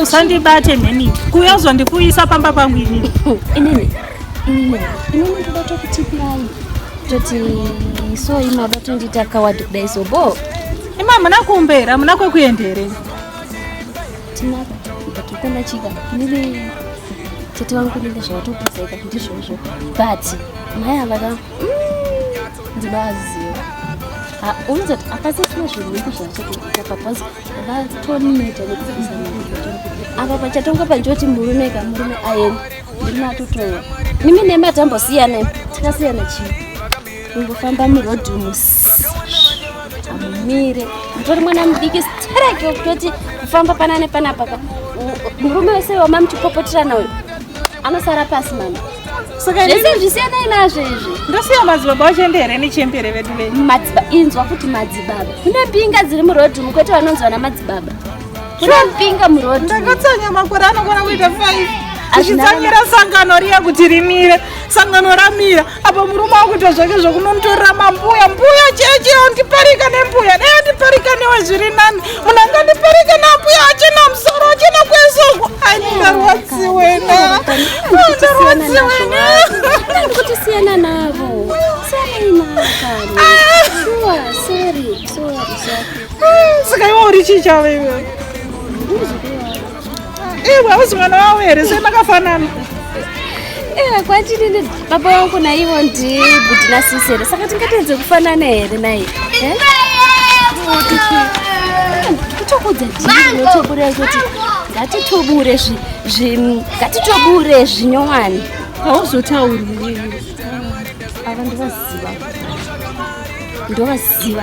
usandibate mheni kuya uzondikuisa pamba pangu inini inini inini inini ndoda tokutipirai toti so imaba tondiita kawadi kudai so bo ima hamuna kumbera hamuna kwekuendere tinako ndakikona chika inini tete vangu kunenge zvawatopuzeka ndizvozvo but mai avaka ndinoaziva unozoti akasasina zvinhu vidi zvavachatoita papazi vatoneta nekuapa pachatongwa pachoti murume ka murume aenda murume atotowa nimi nemi atambosiyana tikasiyana chii kungofamba murodhi mus amumire mutori mwana mudiki stereki wekutoti kufamba pana nepanapaka murume wese wamamuchipopoterana uyo anosara pasi mama zvese zvisiyanai nazvo izvi ndosiya madzibaba wachembere nechembere vedu venyu inzwa kuti madzibaba kune mbinga dziri murodhi umu kwete vanonzi vana madzibaba kune mbinga murodhi ndakatsanya makore anokona kuita five achitsamira sangano riya kuti rimire sangano ramira apo murume wakuita zvake zvokunomutorera mambuya mbuya cheche ondiparika nembuya dai ondiparika newe zviri nani munhu angandipereke nambuya achena musoro achena kweso andarwadziwena andarwadziwenakutosiyana navo saka iwe uri chii chavo iwe Ewe hauzi mwana wavo here sei makafanana? Ewe kwatini baba wangu naivo ndi bhuti na sisi here saka tingatoedze kufanana here nai? Eh? Kutokudza dii notobura kuti ngatitobure zvi ngatitobure zvinyowani. Hauzotauri ava ndovaziva ndovaziva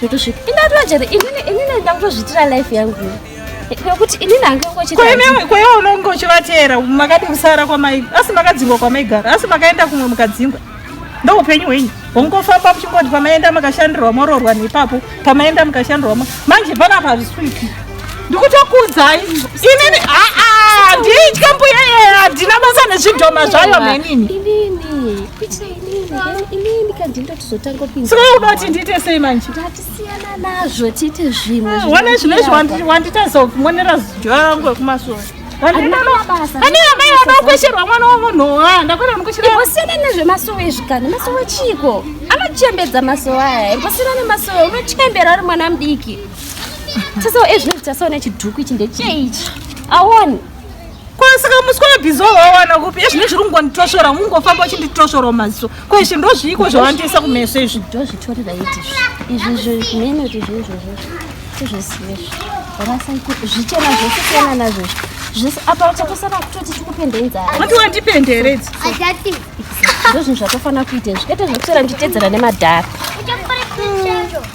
totosvika ingatova chete inini inini ndakutozviitira life yangu nekuti inini hangekoiwewe unonge uchivateera makadi kusara kwamai asi makadzingwa kwamaigara asi makaenda kumwe mukadzingwa ndo upenyu hwenyu hongofamba muchingoti pamaenda makashandirwa mororwa nepapo pamaenda mukashandirwa manje panapa hazviswiki ndikutokuudzai inini aa nditya mbuya yeye handina basa nezvidhoma zvayo menini inini kandi ndotizotanga kupinda saka unoda kuti ndiite sei manje ndatisiyana nazvo tiite zvimwe ah, wana zvino izvi wanditadza kumonera zuva rangu rekumasoro andina amai vanokwesherwa mwana wamunhu ah, ndakwenda ndikuchirasiyana nezvemasowe izvi kani masowe chiiko anochembedza masowe aya imbosiyana nemasowe unochembera ari mwana mudiki tese ezvinoti tasaona chidhuku ichi ndecheichi awoni saka muswe webhizo wawana kupi ezvine zviri kungonditosvora ungofamba uchinditosvora maziso ko izvi ndozviiko zvawandiisa kumeso izvi ndozvitorira iti izvi zvimene kuti zvoizvozvo tizvisiye zvichena zvese siyana nazvo zvese apa chatosara kutoti tikupende inzara kuti wandipende here idzi ndozvinhu zvatofanira kuita izvi kete zvekutora nditedzera nemadhara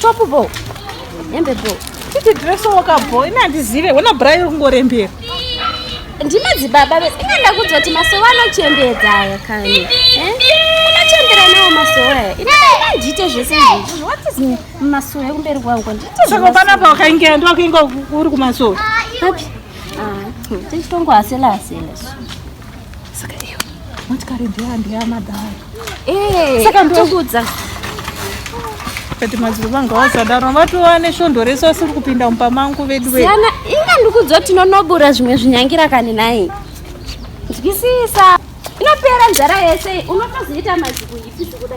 Top ball. Hembe ball. Titi dress woka ball. Ina ndizive. Wona bra iri kungorembera. Ndima dzibaba be. Ina ndakudzwa kuti masowa anochembedza aya kani. Eh? Unachembera nawo masowa aya. Ina ndite zvese izvi. What is masowa ekumberi kwangu? Ndite. Saka pana pa wakaingira ndo wakainga uri kumasowa. Papi? Ah, tichitongo asela asela. Saka iyo motikari ndeya ndeya madhara. Eh, saka ndokudza. Kati madziro vangu vasadaro vatova neshondo rese vasiri kupinda mumba mangu vedu vedu. Siyana inga ndikudzo tinonobura zvimwe zvinyangira kani naye. Nzwisisa. Inopera nzara yese unotozoita maziku ipi zikuda.